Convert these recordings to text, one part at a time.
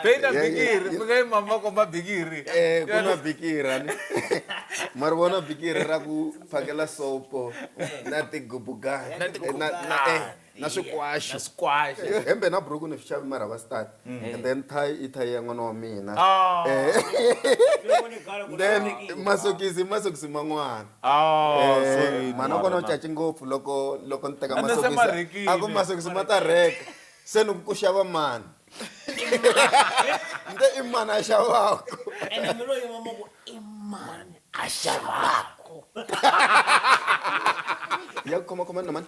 beina bikiri mukai mama komba bikiri eh, kuna bikiri ani mari vona bikiri ra ku phakela sopo na tigubugani na swikwaxi na swikwaxi eh, hembe na buruku ni swi xavi mara va start mm. and then thayi i thayi ya n'wana wa mina ah. eh. then masokisi masokisi man'wana ah, eh, mana kona u caci ngopfu loko loko ni teka masokisi a ku masokisi ma ta rheka se ni ku xava mani nte i mani a xavako a xavako ya ku khomakhoma na mani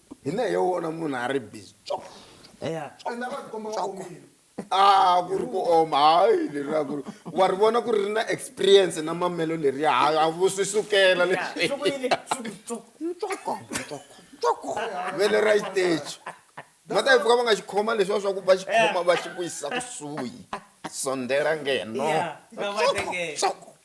Hi na yo vona munhu a ri busy tswok. Eya tswok a ku ri ku oma hayi leriya ku ri wa ri vona ku ri ri na experience na mamelo leriya ha a vo swi sukela leswi vele ra xiteji ma ta yi pfuka va nga xi khoma leswiya swa ku va xi khoma va xi vuyisa kusuhi sondela ngeno tswok tswok.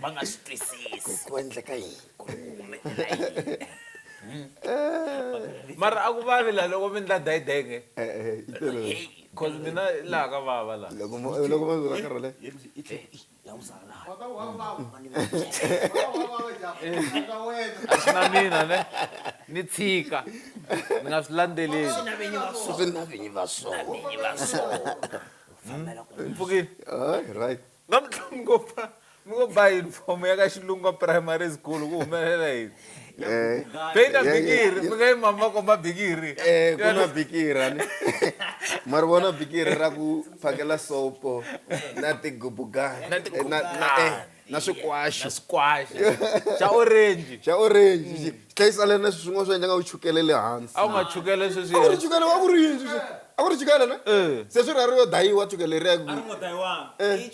va nga swi twisisi ku endleka yini ku humelela yini mara a ku vavi la loko mi ndla dayidenge bcause eh, eh, mina laha ka vava lahaloko va vira karhole a swi na mina ne ni tshika ni nga swi landzeleli swi na vinyi va sona fambela ku mpfukile hayi right namuntlha mi ngo ba mi ngo ba uniform ya ka xilungwa primary school ku humelela yini eh, beina eh, bikiri eh, mi nga yi mama komba bikiri um ku na bikira ni ma ri vona bikiri ra ku phakela sopo na tigubugana na tigubugana na swikwashu na swikwashu xa orange xa orange mm. xi hlayisa lena sweswi swin'wana swi endla nga ku chukele le hansi a wu nga chukele sweswi a ku ri chukele wa ku ri yini sweswi a ku ri chukele na eh. se swi rhari yo dayiwa chukele ri ya ku eh.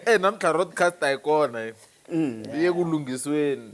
e namtlha rodcast a yi kona mm. yi ye ku lunghisweni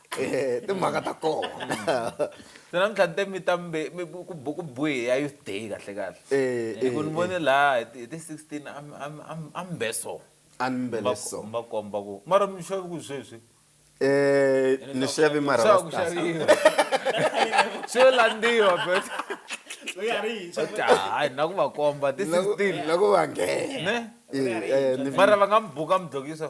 Eh, timhaka ta kona se namuntlha ni te mi ta mbe mi- ku bu- ku buhi ya youth day kahle kahle Eh, hi ku eh, ni vone laha hi ti- hi ti 16 a mi- a mi- a mi- a mi be so a ni mbele Mba- so mba komba ku mara mi xavi ku sweswi Eh, ni xavi mara Xava ku va stars. xaviwa swo landziwa but Loyi a ri yintshwa. but hayi na ku va komba ti Na ku- 16 na ku va nghena ne Eh, eh, ni- mara va nga mi buka mi dlokiso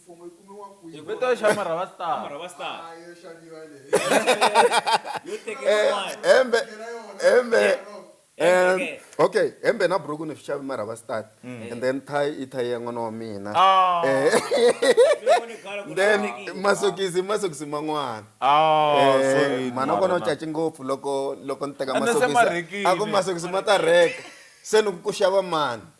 Mfumo yi kumiwa kwihi? Hi vito xa Marhava Star. Marhava Star. Ah, yo xaviwa leyi. Yo tekeriwa Eh, mali. hembe Yena yona. hembe Yeah. em, Hembe, okay. okay hembe na buruku ni swi xavi marhava start and then thayi i thayi ya n'wana wa mina Ah. Eh, Loko ni khala ku then hlawulekile. masokisi i masokisi man'wana Ah, Eh, sorry, mhana kona u Marhava. caci ngopfu loko loko ni teka Ende se ma masokisi rhekile. a ku masokisi ma ta rheka se ni ku ku xava mani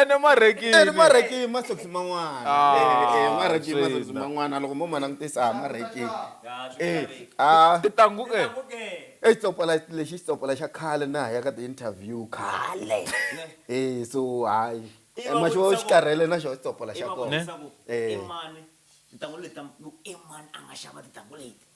ene marekini marekini masokisi man'wana Ah, Eh, eh, marekini swi masokisi na. man'wana loko mo ma langutisa ha marekini Eh, ah, titangu e i xitsopola lexi i xitsopola xa khale na ha ya ka ti-interview khale Eh, so hayi Eh, ma xi va xi karhele na xona xitsopola xa kona Eh. imani tintangu leti ta- ku imani a nga xava tintangu leti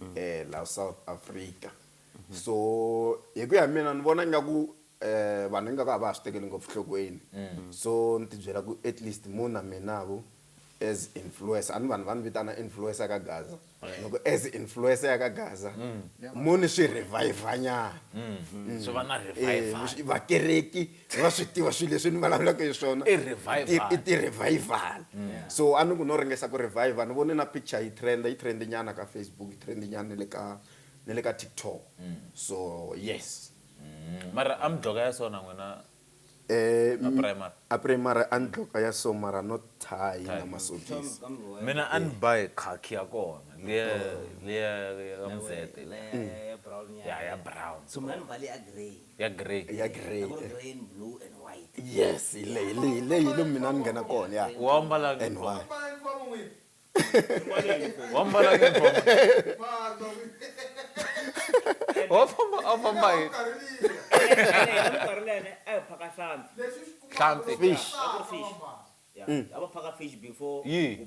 mm. eh la South Africa mm -hmm. so hi ku ya mina ni vona ingaku eh vanhu ingaku a va ha swi tekeli ngopfu nhlokweni mm. so ni tibyela ku at least mu na mina ku as influencer ani vanhu va ni vitana influencer ka gaza loko as influencer ya ka gaza mm. mu ni swi revivanyana mm. mm. so va na eh, revivakereki se va swi tiva swilo leswi ni vulavulaka hi swona I revival. i ti-revival so a ni ku no ringesa ku revival ni vone na picture yi trenda yi trende nyana ka facebook yi trende nyana ni le ka ni le ka tiktok so yes Mm, mara a mi dloka ya sona n'wina Eh, a primary a primary a ni dloka ya so mara no tie na masokisi mina a ni ba hi khakhi ya kona liya liya ya muzete ya ya brown so mna ni mbale ya grey ya grey ya grey yes hi le- hi le- hi leyi hi lomu mina ni nghena kona ya wa mbala and why wa mbala uniform wa famba a famba hi hlanti fish yi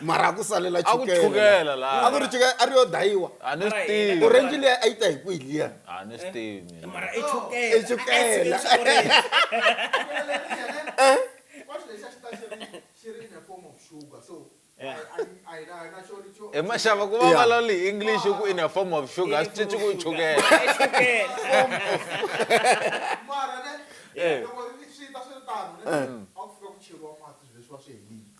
mara a ku salela A ku chukela laha. a ku ri chukela a ri yo dayiwa a ni swi tivi orange leyi a yi ta hi kwihi liya a ni swi tivi mina. mara i chukela I chukela. Ice cream xi orange. he maxava ku va Yeah. vulavula hi english ku in a form of sugar a swi cinci ku i chukela I chukela Eh.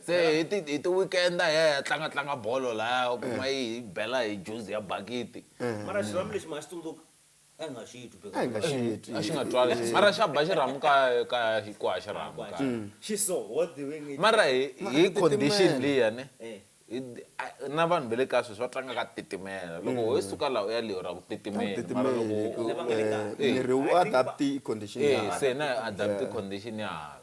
Se hi ti hi ti-weekend-a hi ya hi ya tlangatlanga bolo lahaya u kuma yi hi bela hi juzi ya bakiti. Mara xirhamu lexi ma nga xi tsundzuka? A hi nga xi twi A hi nga xi because twi. A xi nga twali xi mara xa ba xirhamu ka ka hi ku ha xirhamu ka. xi so what the way nge Mara hi Ma, a hi hi ti condition timela. liya ne E. hi ti a na vanhu va le kaya sweswi va tlanga ka titimela loko ho yi suka laha u ya le u ra ku titimeni mara loko Titimela u Lava nga le kaya. e. miri wu I think va- adapt-i condition ya e hala. se na adapt-i condition ya hala.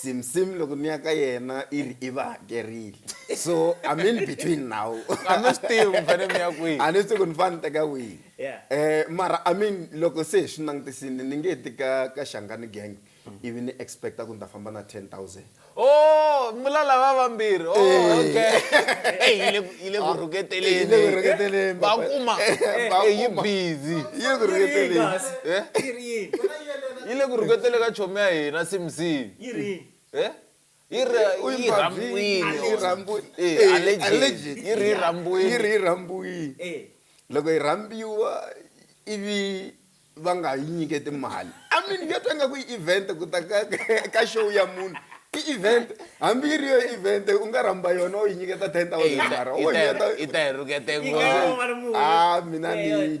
simsim loko ni ya ka yena i ri i va hakerile so i'm in between now a mi swi tivi mi fanele mi ya kwihi a ni swi ku ni fane ni teka wihi um mara i mean loko se hi swi langutisini ni nge ti ka ka xangani gang hmm. ivi ni expecta ku ni ta famba na ten thousand o oh, mula lava vambirhi oh, eh. okay yi le ku ah, rhuketeleni va kuma yi busy yi le ku rhuketeleni yi le ku rhuketele ka chomi ya hina simsim yi ri he yi ri yi rhambiwile yi rhambiwile eh allergy yi ri yi rhambiwile yi ri yi rhambiwile eh loko yi rhambiwa ivi va nga yi nyiketi mali i mean ya twa nga ku event ku ta ka ka show ya munhu i event hambi yi ri yo event u nga rhamba yona u yi nyiketa ten thousand mara u yi ta yi rhukete ngopfu a mina ni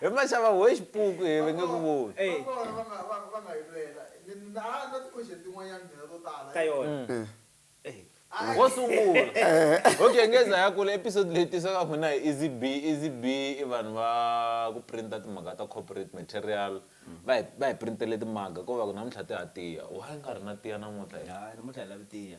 hi maxava we xipuku hi ve nge ku voni ka yona mm. wo sungula okay ngeza ya kula episode leyi tisa ka n'wina hi easy b easy b i vanhu va ku printa timhaka ta corporate material va hi va hi printele timaga ko va ku namuntlha ti ha tiya wa yi nga ri na tiya namuntlha namuntlha hi lavi tiya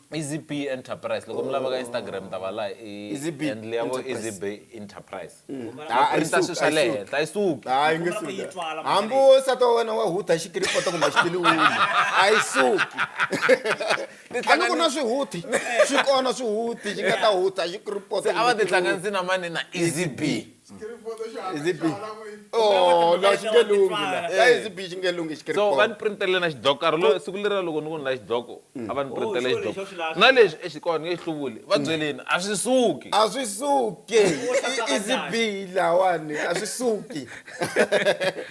easy b enterprise loko mi lava ka instagram ta va laha i Easy B handle ya vo easy Enterprise. b enterprise Ah, a yi printa suki, swilo swa a yi le suki. henhla yi suki hayi nge Ku nga ku yi twala, suki hambi wo nsati wa wena wa hutha xikiripoto kumbe xitiliwini a yi suki a ni ku na swihuthi swi kona swihuthi xi nga ta hutha xikiripoto se a va kumbe tihlanganisi na mani na easy b so va ni printele na xidloko karhi lo siku leri ra loko ni ku ni la xidloko mm. a va ni printele oh, xidloko na lexi exikona nge xi hluvuli va mm. byeleni a swi suki a swi suki easy b lawani a swi suki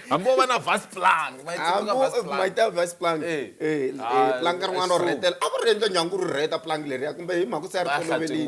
hambi wo va na vas plan mayita vas plan plan ka rin'wana ro rhetela a ku ri endla nyangu ri rheta plan leriya kumbe hi mhaka se a ri tolovelini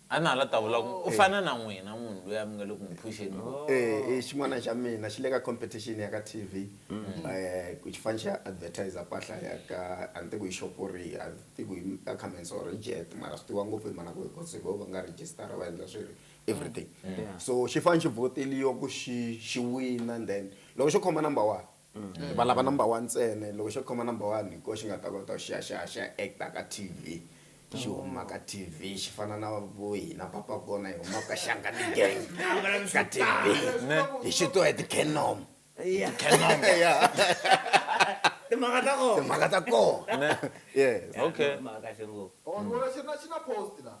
A na ha la ta vula ku, U fana na n'wina munhu loyi a mi nga le ku n'wi phuxeni ku. Eeh, i xin'wana xa mina xi le ka competition ya ka TV, ku xi fane xi ya advertiser mpahla ya ka, a ni tivi ku i xopo rihi, a ni tivi ku i Ackermans or i Jet mara swi tiviwa ngopfu hi mhana ku hikuva se vo va nga register-a va endla swi ri everything. So xi fane xi vhoteliwa ku xi xi wina and then loko xo khoma number one, Hi valava number one ntsena loko xo khoma number one hi koho xi nga ta kota ku xi ya xi ya xi ya act-a ka T_V xi huma ka T_V xi fana na vo hina papa kona hi huma ka Shangani gang ka T_V hi xutiwa hi ti-canom timhaka ta kona timhaka ta kona yes okay. Mhaka kahle ngopfu. Or ni vona xi ri na xi na post la.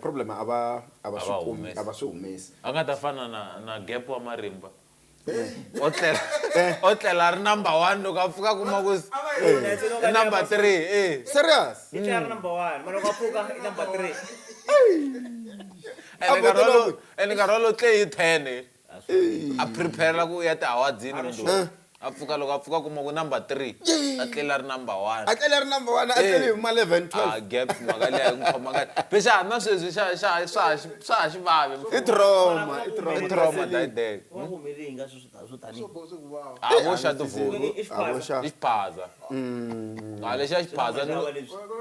Problem a va a va swi kumi a va swi humesi a nga ta fana na na gap wa marimba o tlela o tlela ri number one loko a pfuka kuma ku i number three e serious i tlela ri number one ma loko a pfuka i number three ene nkarhi wolowo ene nkarhi wolowo tle hi ten a prepare-la ku ya tihawadzini mundzuku a pfuka loko a pfuka kuma ku number three a tlela ri number one a tlela ri number one a tlele hi ma eleven twelve a gap mhaka liya ku khoma ka be xa na sweswi xa xa swa ha swa ha xivavi i trauma i trauma i trauma that day a vo xa tivulu i xiphaza Mm. a lexi a xi phaza ni lo-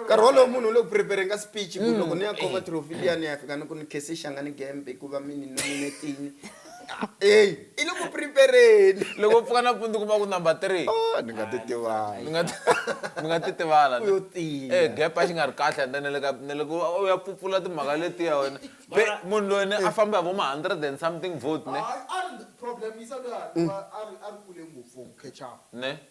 nkarhi wolowo munhu u le ku prepareng-a speech ku loko ni ya khoma trophy liya ni ya fika ni ku ni khese xanga ni gembe hikuva mi ni nominetini eyi i le ku prepareni loko u pfuka nampundzu kuma ku number three Oh, ni nga ti ni tivanga nga ti- ni nga titivala u yo tiya e gap a xi nga ri kahle ende na le ka na le ku u ya pfupfula timhaka letiya wena Be, Mara- munhu loyi ni a famba hi vo ma hundred and something vote ne a ri problem yi sa luya a ri a ri kule ngopfu for ku catch up ne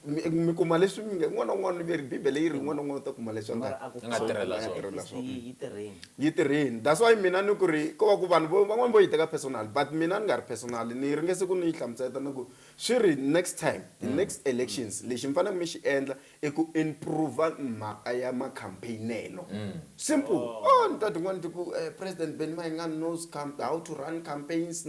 mi mi kuma leswi mi nge un'wana na un'wana ni veri bibele yi ri un'wana na un'wana u ta kuma leswi a nga a ku Nga fana tirhela na swona. tirhela fist swona. yi yi tirheni yi tirheni that's why mina ni ku ri ko va ku vanhu vo- van'wana vo yi teka personal but mina ni nga ri personal ni ringe siku ni yi hlamusela ni ku swi ri next time the next elections lexi mi faneleke mi xi endla i ku improve mhaka ya makhampeyinelo simple oh ni ta tin'wana ti ku eh, president benny mayengani knows camp- how to run campaigns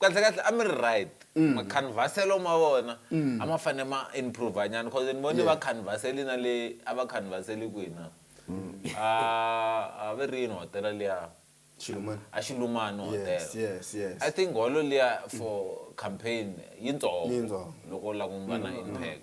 Kahlekahle a mi ri right makhanvhaselo ma vona a ma fanele ma improve nyana cause ni vone vakhanvhaseli na le a va khanvhaseli kwihi na a a ve ri yini hotela liya Xilumani. a Xilumani Yes, hotela yes, yes. I think holo liya for campaign yitsongo Yitsongo. loko u lava ku va na impact.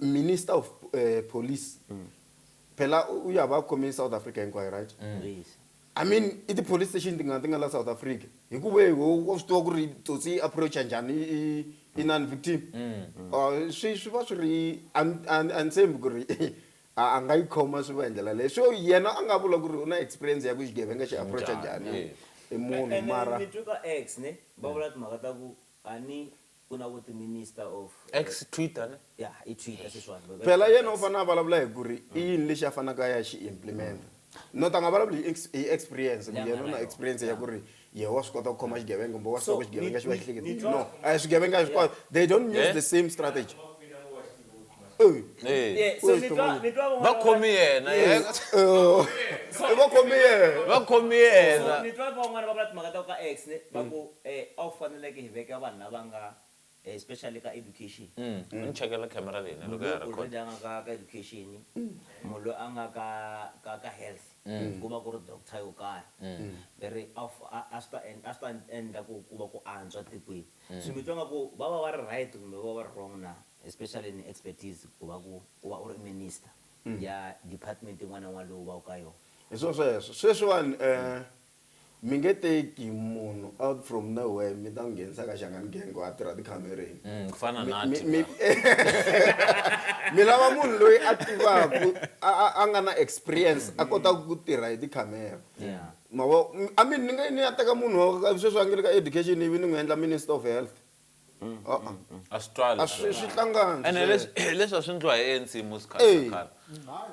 minister of uh, police mm. phela uyaba akhome i-south africa hinkwayo right mm. i mean i ti-police station ti nga ti nga la south africa hikuva wehe wa swi tiva ku ri tsotsi yi approacha njhani i non victim mm. uh, swi swi va swi ri a ni tshembi ku ri a nga yi khoma swi va hi ndlela leyi so yena a nga vula ku ri u na experience ya ku xigevenga xi approacha njhani i munhu mara ni twi ka x ne va vula timhaka ta ku a ni ku na vo ti minister of X Twitter ne? ya i Twitter sweswiwani Phela yena u fanele a vulavula hi ku ri i yini lexi a faneleke a ya xi implimenta. Not a nga vulavuli hi hi experience ku yena u na experience ya ku ri yehe wa swi kota ku khoma xigevenga kumbe wa swi tiva ku xigevenga xi va xi hleketa no a hi swigevenga hinkwaswo they don't use the same strategy. Yeah, so ni twa ni twa va khomi yena eh, eh, va khomi yena va khomi yena ni twa van'wana va vula timhaka ta ku ka x ne va ku um a wu faneleke hi veka vanhu lava nga eh, especially ka education mm. ni chekela camera leyi ne loko ya record already a nga ka ka education munhu loyi a nga ka ka ka health mm. ku va ku ri doctor yo karhi mm. ve ri a swi ta endla ku ku va ku antswa tikweni Swi mi twa nga ku va va va ri right kumbe va va ri wrong na? Especially ni expertise ku va ku u va u ri minister ya department yin'wana na yin'wana leyi u va ku ka yona. Hi swo sweswo. Sweswiwani mi nge teki munhu out from nowhere mi ta n'wi nghenisa ka Xangani Gang ku a tirha tikhamereni. Ku fana na nathi mi mi lava munhu loyi a tivaku a a nga na experience a kotaka ku tirha hi tikhamera. Ma vo I mean ni nge ni ya teka munhu wa sweswi a nge le ka education ivi ni n'wi endla minister of health a-a a swi twali a swi swi hlangani ene sweswo. leswi hi leswi a swi ndliwa hi ANC musi khale Eyi.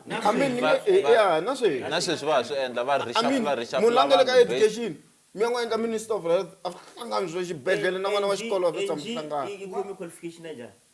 na khale I mean ni nge i ya na sweswi na sweswi va ha swi endla va I mean reshuffle munhu la reshuffle nge le ka vanhu based education mi ya n'wi endla minister of health a swi hlangani sweswo xibedhlele na n'wana wa xikolo a swi tshami swi hlangana yi khome qualification ya njhani.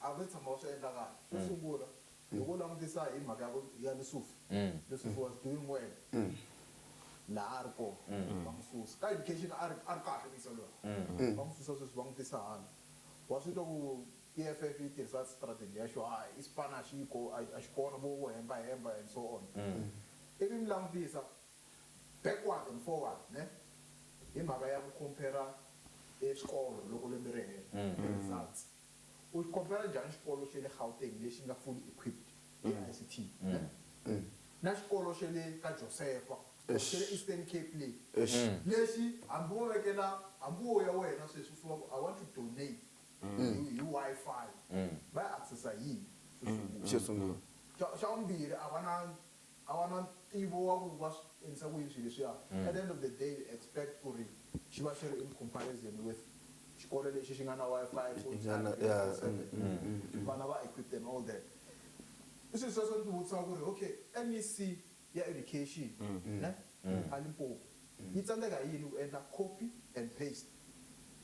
A wu se tshama wu swi endla kahle. Xo sungula, loko u langutisa hi mhaka ya ku ya Lusufi, Lusufi was doing well laha a ri kona, va n'wi susa. Ka education a ri a ri kahle musa luya, va n'wi susa sweswi va n'wi tisa hala. Wa swi twa ku EFF yi tirhisa strategy ya xo a i xipano a xi ko, a a xi kona vo vo hemba hemba and so on. Ivi mi langutisa backward and forward ne, hi mhaka ya ku compare-ra e swikolo loko lembe ri hela, results. U xi khompera njhani xikolo xa le Gauteng lexi nga fully equipped hi ICT na xikolo xa le ka Josefa or xa le Eastern Cape le lexi hambi wo vekela hambi wo ya wena sweswi u fika u ku I want to donate hi hi Wi-Fi va yi access-a hi yini xo sungula? Xa xa vumbirhi a va na a va na ntivo wa ku va swi endlisa ku yini swilo leswiya, at the end of the day you expect ku ri xi va xi ri in comparison with xikolo lexi xi nga na Wi-Fi full Xi nga time na- twenty yeah, four seven, mm, mm, mm. vana va equipped and all that. I swilo sweswo ni ti vutisaka ku ri okay MEC ya Education ne a Limpopo yi tsandzeka hi yini ku endla copy and paste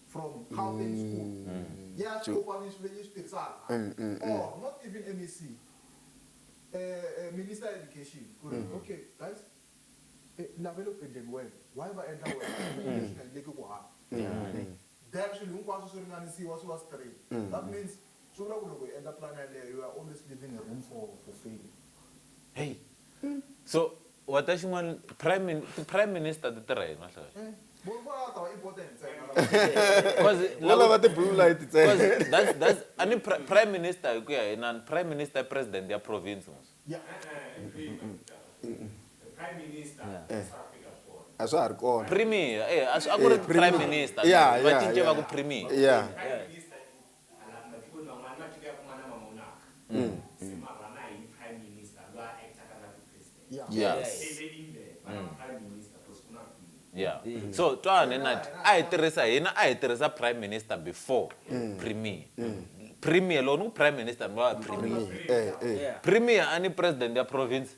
from Gauteng school yi ya swi kopa yi swi yi swi tirhisaka or not even MEC, eh, minister ya education ku ri okay guys eh, lava le ku endleni wena why va endla wena leswi nga endleki ku hava then swilo hinkwaswo swi ringanisiwa swi va straight that means swi vula ku loko hi endla plan yaleyo you are always leaving a room for for failure hey so Wa ta xin'wana prime min ti prime minister ti tirha yini mahlaya. Munhu va lava tava i bote ntsena lava. Cause Vo lava lava ti blue light ntsena. cause that's that's a ni pri- prime minister hi ku ya hi nani prime minister i president ya province mos. E-e hi kwihi mhani Mtaka. E prime minister a swa ha fika swona. A swa ha ri kona. Premier eya a swi a ku ri prime minister Yeah, va yeah, cince va yeah. ku premier. Yeah. Prime minister i yeah yeah so twana nati a hi tirhisa hina a hi tirhisa prime minister before premier premier loko ni ku prime minister ni va premier eh eh premier a ni president ya province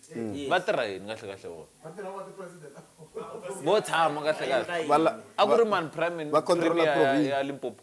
va tirha yini kahle kahle vona vo tshama kahle kahle Vala- a ku ri mani prime va controller premier ya- province. ya limpopo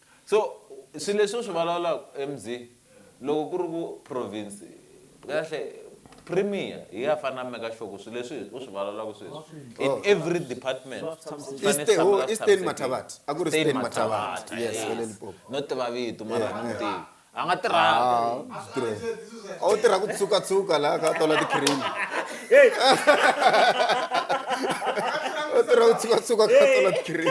So swilo leswi u swi vulavulaka MZ loko ku ri ku province kahle premier hi ya fana meka sure ku swilo leswi u swi vulavulaka sweswi in every department swi fanele swi Eastern- tshameka ho, swi Eastern tshamisekile. Mathabatha. A ku ri Eastern Mathabatha. Mathabatha, Yes, yes. va le Limpopo. no tiva vito mara Yeah, a ni yeah. n'wi tivi a nga tirhaka wu tirha ku tsukatsukka laha ka tola ti-cream u tirha ku tsukatsukka ka tola ti-cream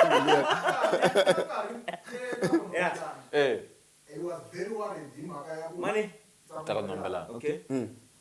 ta ka nombelana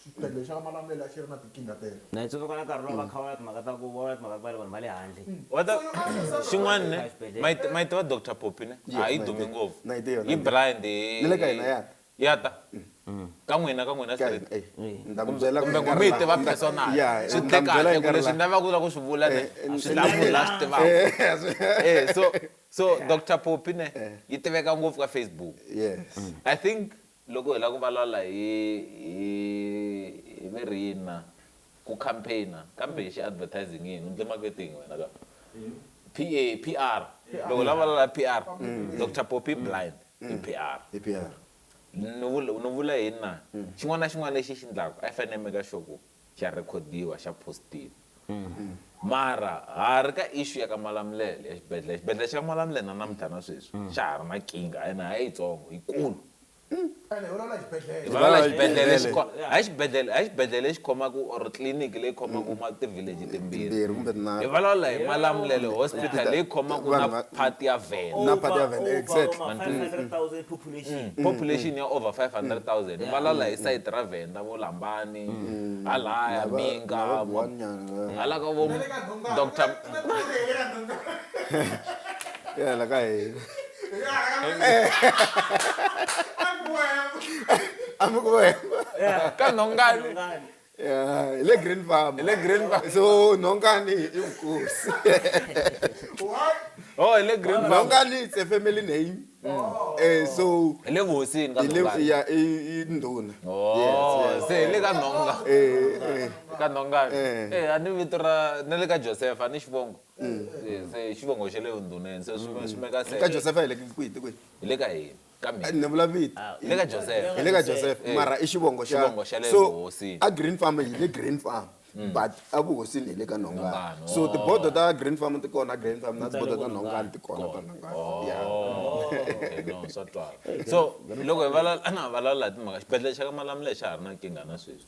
Xibedlhele xa ka Malamulele a xi ri na tinkingha teto. Na yi tsundzuka na nkarhi luwa va kha va vula timhaka ta ku va vula timhaka ta ku va le vanhu va le handle. Wa ta xin'wana ne ma yi ma yi tiva Doctor Poppy ne a yi dumi ngopfu yi blind hi ya ta ka n'wina ka n'wina straight kumbe kumbe ku mi yi tiva personal swi tle kahle ku leswi ni lavaku ku la ku swi vula ne a swi lavi munhu la swi tivaku e so so Doctor Poppy ne yi tiveka ngopfu ka Facebook I think Loko hi lava ku valala hi hi hi veri yini na ku campaign kambe xi advertising i yini u ndle marketing wena ka PA PR loko hi lava ku valala PR Doctor Poppy blind i PR I PR. ni vula ni vula yini na xin'wana na xin'wana lexi i xi ndlaku a yi fane yi make sure ku xa rhekhodiwa xa postiwa mara ha ri ka issue ya ka Malamulele ya xibedhlele xibedhlele xa ka Malamulele na namuntlha na sweswi xa ha ri na kinga ene a yitsongo yikulu ene hi vulavula xibedhlele hi vulavula xibedhlele lexi kho- hayi xibedhlele hayi xibedhlele lexi khomaka or tliliniki leyi khomaka ma ti-village timbirhi Timbirhi kumbe tinharhu. hi vulavula hi Malamulele hospital leyi khomaka Vanhu na va- part ya Venda na part ya Venda, exactly. Over, over 500,000 people population ya over 500000 ni valala hi site ra venda vo lambani halaya minga hala ka vo dr ya la ka hina amukuwemba ka nhongani Eh, le green farm le green farm so nonkani inkosi what oh le green farm nonkani it's a family name oh. eh so le ngosini ka nonkani ya induna oh yes, yes. se le ka nonga eh, eh ka nonkani eh, eh ani vito ra ne le ka joseph ani xivongo mm. se xivongo xa le unduneni se swi mm. swi meka se ka joseph ile kwini kwini ile ka yini kambe ni vula vito ah, hi le ka joseph hi le ka joseph eh, mara i xivongo xa so a green farm hi le green farm mm. but evuhosini hi le ka nhongani so tibodo ta oh. green farm ti kona green farm na tibodo ta nhongani ti kona ta nhongani oh, so loko hi valala na valala hi timhaka xibedhlele xa ka malamula xa ha ri na nkingha na sweswi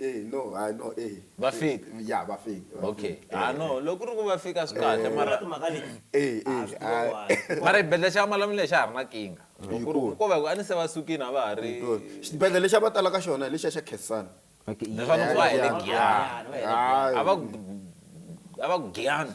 Eh, no, ah, no, eh. Va fika? Eh, ya, va fika. va Okay. fika. Ah Eh, no, eh. loko ku ri ku va fika swi kahle Vona mara timhaka leti Eh, eh, a swi tiva ah. why. mara xibedhlele xa malamuleni xa ha ri na kinga. Loko ku ri Hikuva? ku va ku a ni se va sukile a va ha ri xibedhlele lexi a va tala ka xona hi lexiya xa khensani Okay, leswaku yeah. va hele giyani. Giyani, va hele giyani. a va ku a va ku giyani.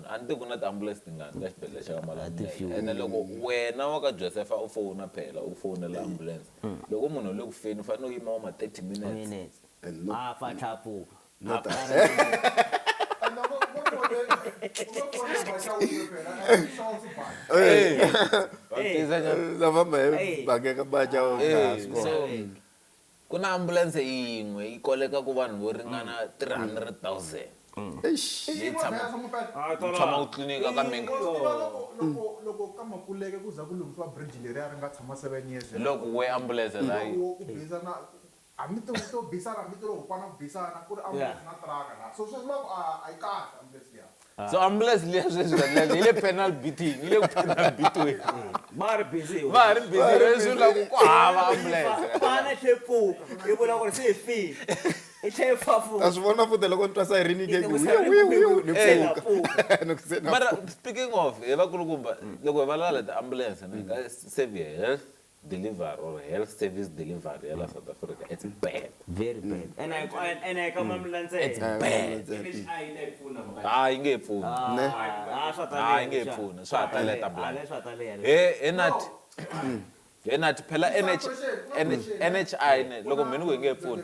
A ni ti ku na tiambulense tingani ka xibedhlele xa ka Malamulele ene loko wena wa ka Josefa u fona phela u fonela ambulense loko munhu u le ku feni u fanele u yima wa ma 30 minutes minutes And no- a fa tlhapuka Not a fa And no, go- go for the- go for the Bacha Uwe phela, and it sounds bad. Va tiza nyana. lava ma Hey. bakeka baja Eh, so Ku na ambulense yin'we yi kolekaka vanhu vo ringana 300,000 leyi tshamaka yi tshama ku tliliniki ka minkarhi. Loko we ambulense layi. so ambulance liya sweswi vanani yi le penal beating yi le ku penal beatweni va ha ri busy va ha ri busy leswi la ku ku hava ambulance vana tlhe pfuka yi vula ku ri se hi file i tlhe yi fafuka a swi vona futa loko ni twa sayirini ke ku ni pfuka ni ku se na mara speaking of hi vakulukumba loko hi valala ti ambulance ni ka save health delivery or health service delivery ya la south africa it's bad very bad mm. and I, and, and I come mm. mlantsela it's bad ah yi nge pfuni ah, ne ah, ah swa ta ah yi nge pfuni swa ta leta blood swa ta leya he he nat he nat phela NH NHI ne loko mheni ku yi nge pfuni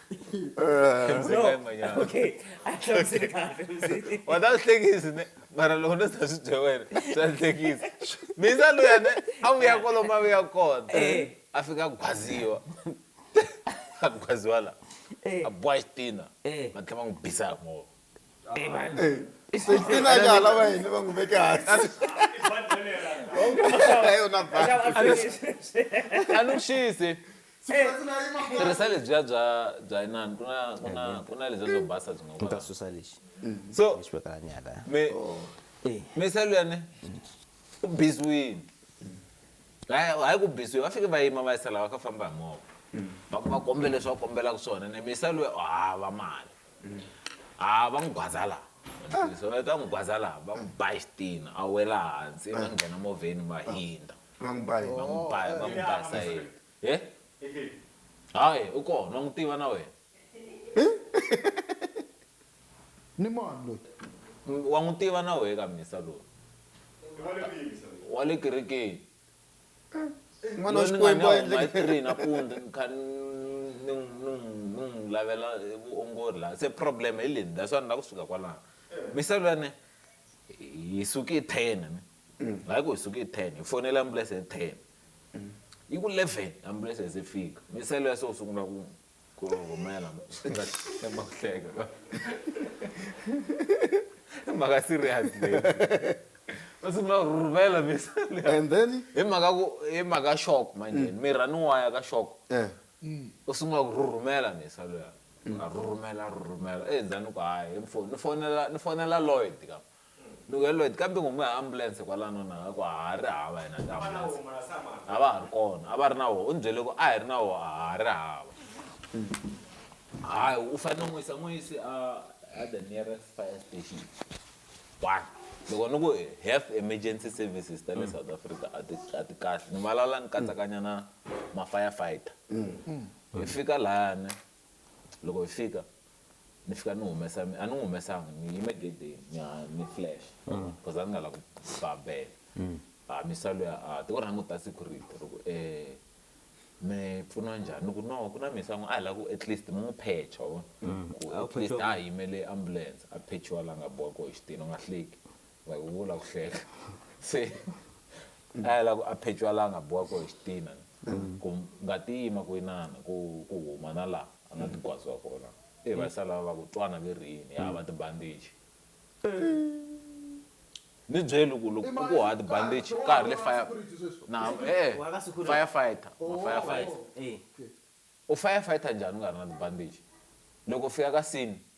okay a hlamusekani wa ta swi hlekisi ne mara loko no ta swi bye wena swa hlekisa misa luya ne a vuya kolo ma vuya kona eh. a fika gwaziwa a gwaziwa la eh. a bowa xitina eh. va tlhela va n'wi bisa hi movha anuxisi tirhisa lebyiya bya bya inani ku na ku na ku na lebyiya byo basa byi nga ta susa lexi so lexi vekaka nyala mi mi se luyani u biziwini hayi hayi ku biziwi va fike va yima va yisela va ka famba hi movha va ku va kombele leswi va kombelaka swona ne mi se luya u hava mali ha va n'wi gwaza laha so va ta n'wi gwaza laha va n'wi ba xitini a wela hansi va nghena movheni va hindza va n'wi ba yini va n'wi ba va n'wi ba sayeni he hayi u kona wa n'wi tiva na wena ni mani loyi wa n'wi tiva na wehe ka misa loyi wa le kerekeni n'wana wa xikwembu a endleke three nampundza ni kha ni n'wi lavela vuongori laha se problem hi leni that's why ni lava ku suka kwalano misava leyani hi suke hi ten ni mm. hayi ku hi suke hi ten hi fonela ambulense hi ten yi ku eleven ambulense se fika misava leya se u sungula ku ku rhumela swi nga tshemba ku hleka ka mhaka serious leyi va sungula ku rhumela misali and then hi mhaka ku hi mhaka shock manje mm. mira ni waya ka shock eh. u sungula ku rhurhumela misa luya a rhurhumela rhurhumela endzhaku eh, ku hayi ni fonela ni fonela lloyd ka Ni ku Lloyd kambe ngoma ya ambulense kwalano na nga ku a ha ri hava yena ka ambulense a va ha ri kona a va ri na wo u ni byele ku a hi ri na wo a ha ri hava hayi u fanele n'wi yisa n'wi yisi a a the nearest fire station one loko ni ku half emergency services ta le South Africa a ti a ti kahle ni vulavula ni katsakanya na ma fire fighter hi fika layani. loko hi fika ni fika ni humesa a ni n'wi humesanga ni yime gedeni ni ha ni flash because a ni nga la ku ba bele a ah, misa luya a ah, ti vona n'wi ta security loko um eh, mi pfuniwa njhani ni ku no ku na misa n'wi a ah, hi la ku at least mi n'wi phecha wa mm. ku at least a yimele ambulance a phechiwa la nga boha koho xitini u nga hleki like u vula ku hleka se a ya la ku a phechwa la a nga boha koho xitina mm. ku nga ti yima ku inana ku ku huma na laha a nga ti gwaziwa kona e va sala va ku twana ve rini ya va tibandiji ni byeli ku loko ku ha tibandiji ka ha ri le fire na e firefighter oh, firefighter u firefighter njhani u nga ri na tibandiji loko fika ka sini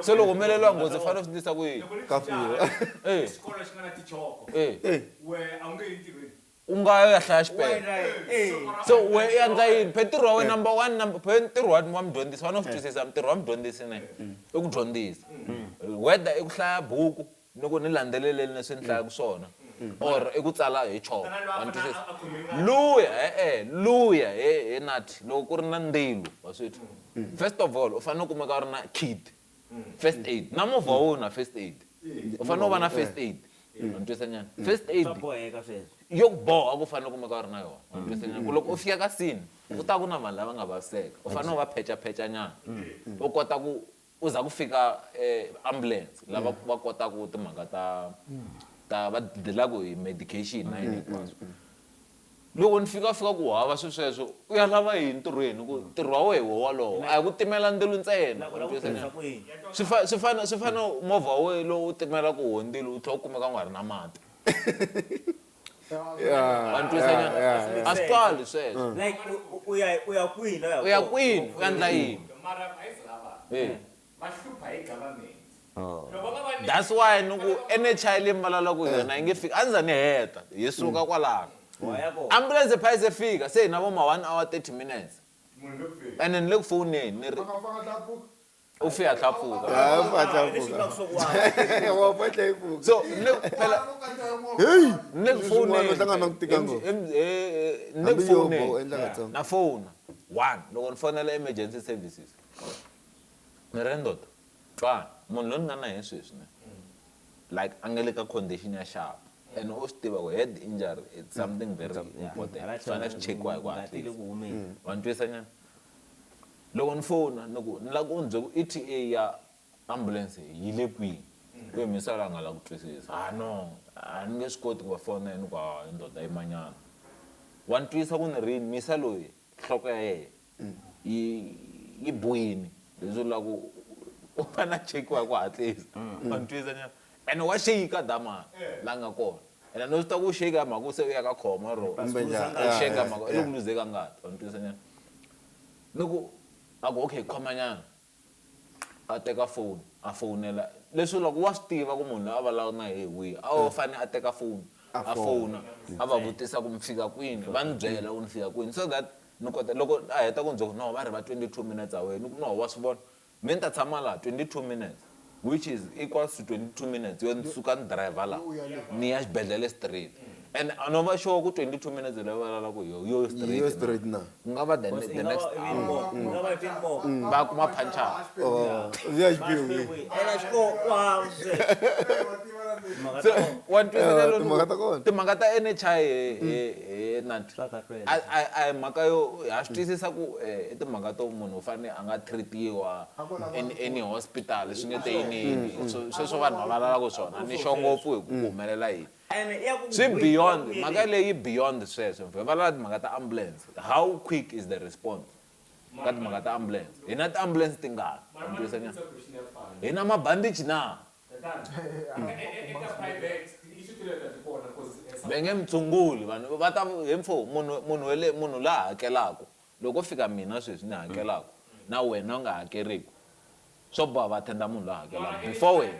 se loko humeleriwa nghozi fanele u swi ndlisa ku yini ka file e e u nga yo ya hlaya xipele se we i yandza yini phe ntirho wa wena number one number phe ntirho wa wa mudyondzisi fanele u swi twisisa ntirho wa mudyondzisi ne i ku dyondzisa whether i ku hlaya buku Ni ku ni landzeleleni leswi ni hlayaka swona or i ku tsala hi chalk wa ni twisisa luya e-e luya he he nathi loko ku ri na ndzilo wa swi twa first of all u fanele u kumeka u ri na kit first aid na movha wa wena u na first aid u fanele u va na first aid wa ni twisisa nyana first aid Swa boheka sweswo. yo ku boha ku u fanele u kumeka u ri na yona wa ni twisisa nyana ku loko u fika ka scene ku ta ku na vanhu lava nga vaviseka u fanele u va phechaphecha nyana u kota ku Ku za ku fika ambulance lava va kotaku timhaka ta ta va dilaka hi medication na yini hinkwaswo. Loko ni fika va fika ku hava swi sweswo u ya lava yini ntirhweni ku ntirho wa wehe hi wo walowo a hi ku timela ndzilo ntsena swi fane swi fane swi fane movha wa wehe lowu timelaku ho ndzilo u tlhe u kumeka u nga ri na mati. antswisa nyana a swi twali sweswo like u- u ya u ya kwihi la u ya kona? kwini u ya ndla yini mara a yi se lava Eh. va hlupha hi government loko va nga va nyiki- that's why ni ku nhi leyi mi vulavulaka hi yona yi nge fiki a ni za ni heta hi suka kwalano Wa ya kona. ambulense pha yi se fika se hi na vo ma one hour thirty minutes munhu le ku feni ene ni le ku fowuneni ni ri Fanga fanga tlakuka. o fe a tla foka so nne phela hey nne phone nne phone na phone one loko ni fonela emergency services ni ri ndoto twana munhu loyi ni nga na yena sweswi ne like a nga le ka condition ya xava and u swi tiva ku head injury it's something very important swi fanele swi chekiwa hi ku hatlisa wa ni twisa nyana Loko ni fona ni ku ni lava ku mi byela ku ETA ya ambulense yi le kwihi? Ku yini Missalo a nga lavi ku twisisa. Ha no, a ni nge swi koti ku va fonela. Ni ku, Hawa he ndoda yimanyana. Wa ni twisa ku ni ri yini? Misa loyi nhloko ya yena yi yi bohile leswi vulaka ku u fanele a chekiwa hi ku hatlisa. Wa ni twisa xana? Ene wa shaker dama la nga kona ene no swi tiva ku shaker hi mhaka ku se u ya ka khoma or u shaker hi mhaka i le ku luzeni ka ngati wa ni twisa ni ni ku a ku okay khomanyana a teka foni a fonela leswi vulaka ku wa swi tiva ku munhu loyi a vulavulaka na yehe hi wihi a wo fane a teka foni a fona a va vutisa ku mi fika kwini va ni byela ku ni fika kwini so that ni kota loko a heta ku ni byela ku no va ri va twenty two minutes away ni ku no wa swi vona. Me ni ta tshama laha 22 minutes which is equals to 22 minutes yo ni suka ni driver laha ni ya xibedhlele straight and a no va sure ku 22 minutes leyi va vulavulaku hi yo yo Yi yo straight na. ku nga va the ne- the next hour va kuma phanchara. Or ya xiphiyo ke. Timhaka ta kona. wa ni twisisa Eh, timhaka ta kona. timhaka ta NHI he he he Nati Swa kahlula. a a a hi mhaka yo ha swi twisisa ku eh, i timhaka to munhu u fanele a nga treat-iwa in any hospital swi nge te yiniyini Swo- sweswo vanhu va valalaku swona ni xo ngopfu hi ku ku humelela yini Ene ya ku swi n'wi beyond bohisa mhaka kunene. leyi beyond sweswo hi valala timhaka ta ambulance how quick is the response ka timhaka ta ambulance hi na tiambulance tingani Wa ni twisisa nyana? hi na mabandichi na Va nge mi tshunguli vanhu va ta he mpfhu munhu munhu wa le munhu la hakelaka loko ko fika mina sweswi ni hakelaka na wena u nga hakeriku swo boha va attend munhu la hakelaka before wena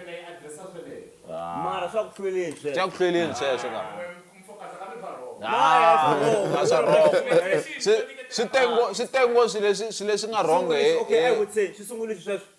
mara swa ku hlweleni sweswo swa ku hlweleni sweswo ka a swa wrong swi swi tengo swi tengo swi leswi swi leswi nga wrong he he swi sungulisa sweswo.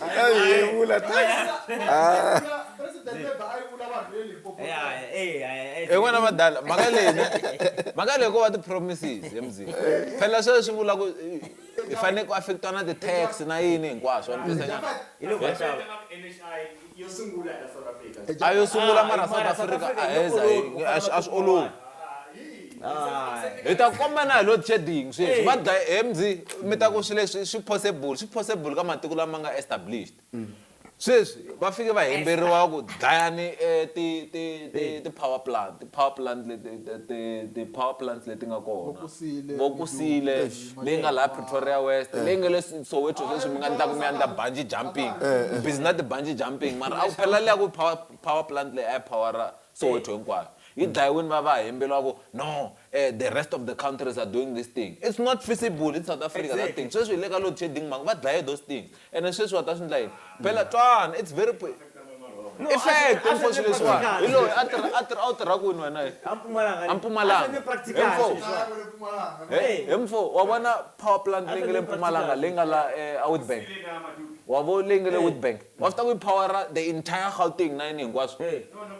ayevula en'wana vadala mhaka leyi mhaka leyi ko va ti-promises emzini phela sweswo swi vula ku hi fanele ku affectiwa na ti-tax na yini hinkwaswo a yo sungula mara south africa a heza hi- a swi- a swi olovi hi ta komba na hi load shedding sweswi va dlaye he mzi mi ta ku swi leswi swi possible swi possible ka matiko lama nga established sweswi va fike va hemberiwa ku dlayani eh, ti- ti- ti- ti-power plant ti-power plant leti ti- ti- ti-power plant leti nga kona Vokusile, vokusile leyi nga laha pretoria west leyi nga le Su- soweto sweswi mi nga ni ta ku mi ya ni ta banji jumping mi busy na tibanji jumping mara a ku phela liya ku power, power plant leyi a yi powera soweto hinkwayo yi dlayiwini va va hembeliwa ku no um the rest of the countries are doing this thing it's not feasible in south africa that thing sweswi hi le ka load shedding mhani va dlaye those things Ene sweswi wa ta swi ndla yini? Phela twana, it's very pl. I hlaya hi tinkosi leswiwani. Hi loyi a tirha, a tirha, a wu tirha kwini wena? Hi. A Mpumalanga. A Mpumalanga. He mfo. He, he mfo, wa vona power plant leyi nga le Mpumalanga leyi nga la e, a Witbank? Wa vo leyi nga le Witbank? Wa swi tiva ku yi power-a the entire Gauteng na yini hinkwaswo?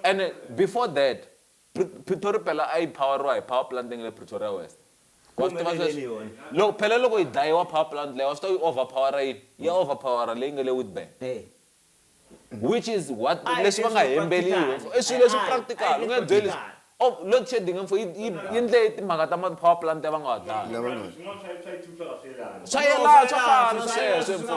Ene before that. Pretoria phela a yi phawariwa hi power plant leyi nga le Pretoria West. Wa swi tiva sweswo? Loko phela loko yi dlayiwa power plant leyi wa swi tiva ku yi overphawara yini? Ya overphawara leyi nga le Witbank. Which is what leswi va nga hembeliwa. I swilo leswi practical u nge byeli load shedding mfo yi yi yi ndle timhaka ta ma power plant ya va nga wa dlaya. Swa yelana swa fana sweswo mfo.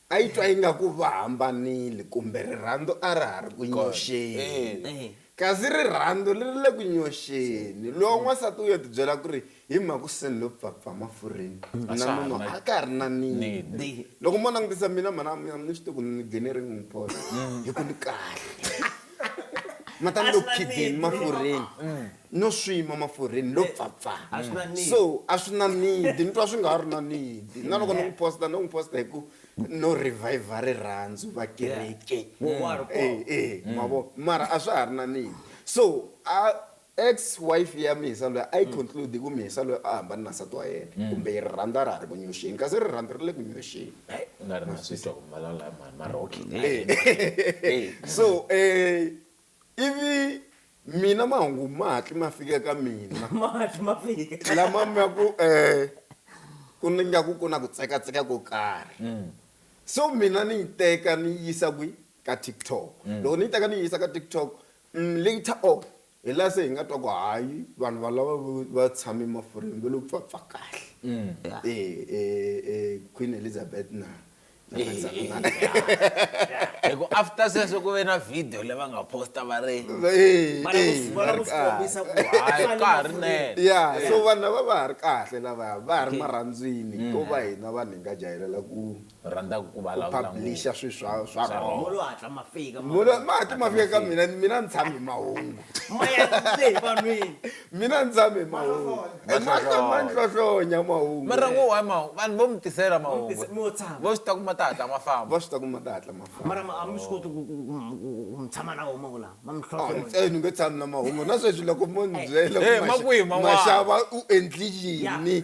A yi twa ingaku va hambanile kumbe rirhandzu a ra ha ri ku nyoxeni. Kasi rirhandzu ri ri le ku nyoxeni. Loko n'wansati u yo tibyela ku ri, Hi mhaku se ni lo pfapfa mafurheni, na nuna a ka ha ri na nidi. Loko mo langutisa mina mhana, a mi swi tivi ku ni gene ring n'wi phosa hi ku ni kahle. Ma ta ni lo khidini mafurheni. no swi nwa mafurheni lo pfapfa so a swi na need ni twa swi nga ha ri na need na loko ni n'wi posta no n'wi posta hi ku no revive rirhandzu va kereke e e mavo mara a swa ha ri na need so a ex wife ya mhisa loyi a yi conclude ku mhisa loyi a hambane na nsati wa yena kumbe yi rirhandzu a ra ha ri ku nyoxeni kasi rirhandzu ri le ku nyoxeni so um ivi mina mahungu ma hatli ma fika eka mina ma hatli ma fika lama ma ku um ku ni nga ku ku na ku tsekatseka ko karhi mm. so mina ni yi teka ni yi yisa kwi ka tiktok mm. loko ni yi teka ni yi yisa ka tiktok mm, later on hi laha se hi nga twa ku hayi vanhu valava va tshame mafurheni va lo pfapfa kahle e, e, e, queen elizabeth na hiku after sweswo ku ve na video leyi va nga posta va ri ya so vanhu lava va ha ri kahle lavaya va ha ri marhandzwini mm. ko va hina vanhu hi nga jahelela ku rhandza ku publisha swi swa swa rohomati ma fika ka mina mina ni tshami mahungu mina ndzame mahungu mahlohlonya mahungu mara ngo wa mahungu vanhu vo mi tisela mahungu vo swi ta kuma ta hatla ma famba va swi ta kuma ta hatla ma famba mara a mi swi koti ku mi tshama na wo mahungu lama ma mi hlohlonya ntsena ni nge tshami na mahungu na sweswi loko mo ni byela ku maxava u endli yini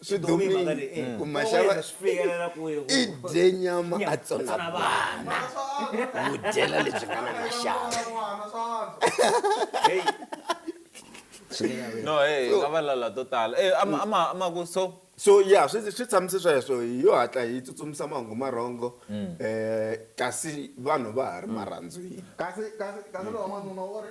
swidomiimasava i dye nyama a tsona vana wu dyela lebyi nga na maxava no hey nga va lala to tala eh ama ama ama ku so so yeah swi swi tshamise sweswo hi yo hatla hi tsutsumisa mahungu marhongo mm. eh kasi vanhu va ha ri marhandzwini kasi kasi kasi lo n'wanuna wo ri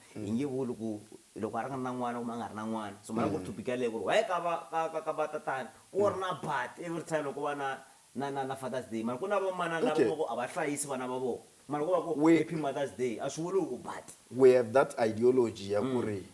Hi nge vuli ku loko a ri na n'wana kumbe a nga ri na n'wana so mara ku ri to be ka leyi ku ri why ka va ka ka ka va tatana ku ri na but every time loko va na na na na father's day mara ku na va manana lava Okay. va ku a va hlayisi vana va vona mara ko va ku We- happy mother's day a swi vuli ku but we have that ideology ya ku ri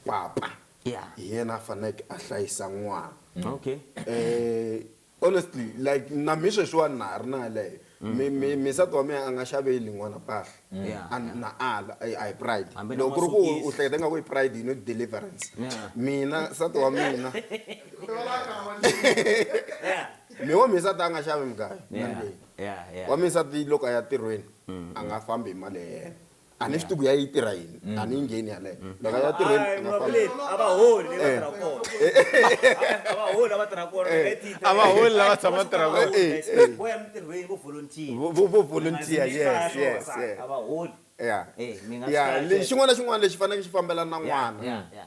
papa Yeah. hi yena a faneleke a hlayisa n'wana okay um Honestly like na mhe sweswiwani na ha ri na yaleyo mi mi mi nsati wa mehe a nga xaveli n'wana mpahla Yeah, and yeah. na ala a hi- a hi pride Hambi na loko ku ri ku u masokisi. hleketa nga ku i pride yi no deliverance Yeah. mina nsati wa mina mi wa minsati a nga xavi mugayo Yeah, yeah, yeah. wa minsati loko a ya tirhweni a nga fambi hi mali ya yena a ni swi tivi ku ya yi tirha yini a ni yi ngheni yaleyo loko ya tirheni a nga fambi. a va holi leyi va tirha kona a va holi lava tirha kona Eh. leti a va holi lava tshama tirha va kona Eh, eh. vo ya mintirhweni vo volunteer Vo- vo- vo volunteer yes yes yes a va holi ya Eh, mi nga swi ya kahle. lexi xin'wana na xin'wana lexi faneleke xi fambelana na n'wana ya ya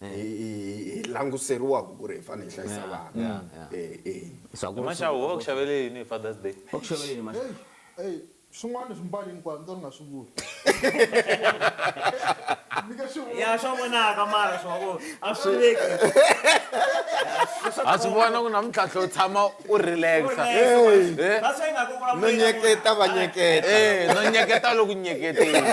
hi languteriwaka ku ri hi fanele hi hlayisa vana maxawu wo ku xavele yini hi fathers day swin'wana swi mbali hinkwayo ni to ni nga swi vuli ya swa vonaka mara swa ku a swi veki ha swi vona ku na mintlhantlho u tshama u relaxa no nyeketa va nyeketa no nyeketa loku nyeketeni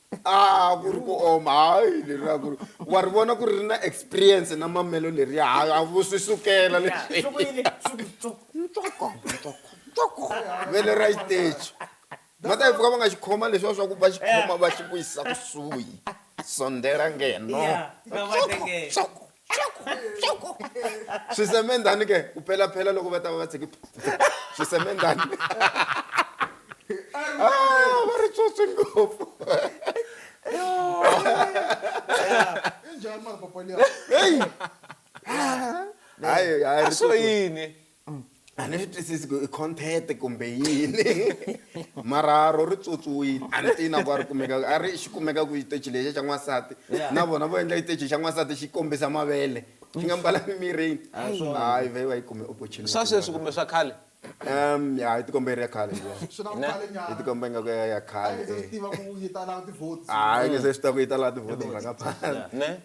a ku ri ku oma hayi leriya ku ri wa ri vona ku ri ri na experience na mamelo leriya hayi a vu swi sukela leswi vele ra xiteji va ta yi pfuka va nga xi khoma leswiwa swa ku va xi khoma va xi vuyisa kusuhi sondela ngeno swisemendhani ke ku phelaphela loko va ta va va tshiki swisemendhani ah, va ri tsotsi ngopfu hayi hayi swo yini a ni swi twisisi ku i content kumbe yini mara ro ri tswotswiwile a ni tiyi na ku a ri kumeka a ri xi kumeka ku xiteji lexi xa n'wansati na vona vo endla xiteji xa n'wansati xi kombisa mavele xi nga mbala mimirini hayi vhe va yi kume opportunity swa sweswi kumbe swa khale um ya yi tikomba yi ri ya khale liya swi na ku khale yi nyana tikomba ingaku ya ya a khale yi se swi eh. tiva ku yi ta lava ti-votes hayi nge se swi ta ku yi ta laha tivhoti mhaka phana ne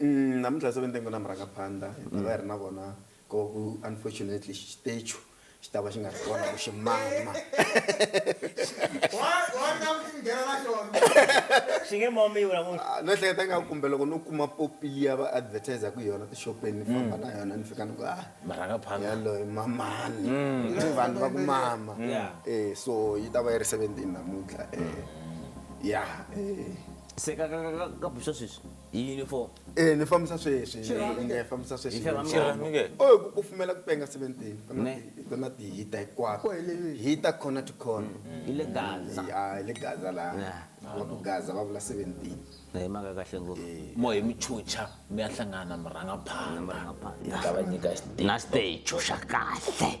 Umm namuntlha se va ntengo na murhangaphandla hi mhaka hi ri na vona ko ku unfortunately xitechu xi ta va xi nga ri kona ku xi mama Xi nge mamiwi namuntlha. Ah, no ehleketa nga kumbe loko no kuma popi liya va advertiser ku yona tixopeni ni famba na yona ni fika ni ku ah Murhangaphandla. yaloyi mamani Ni vanhu va ku mama eh so yi ta va yi ri 17 namuntlha eh ya eh Se ka ka ka ka ka buxa sweswi. yini fo eh ni fambisa sweswi ni fambisa sweswi xirhami ke o ku kufumela ku penga 17 ku na ti hita hikwako hita khona to khona mm. ile gaza ya ile gaza la wa ku gaza va vula 17 eh maka kahle ngopfu eh. mo hi muchucha mi ya hlangana murhanga phana murhanga phana ni ta va nyika stage na stage xa kahle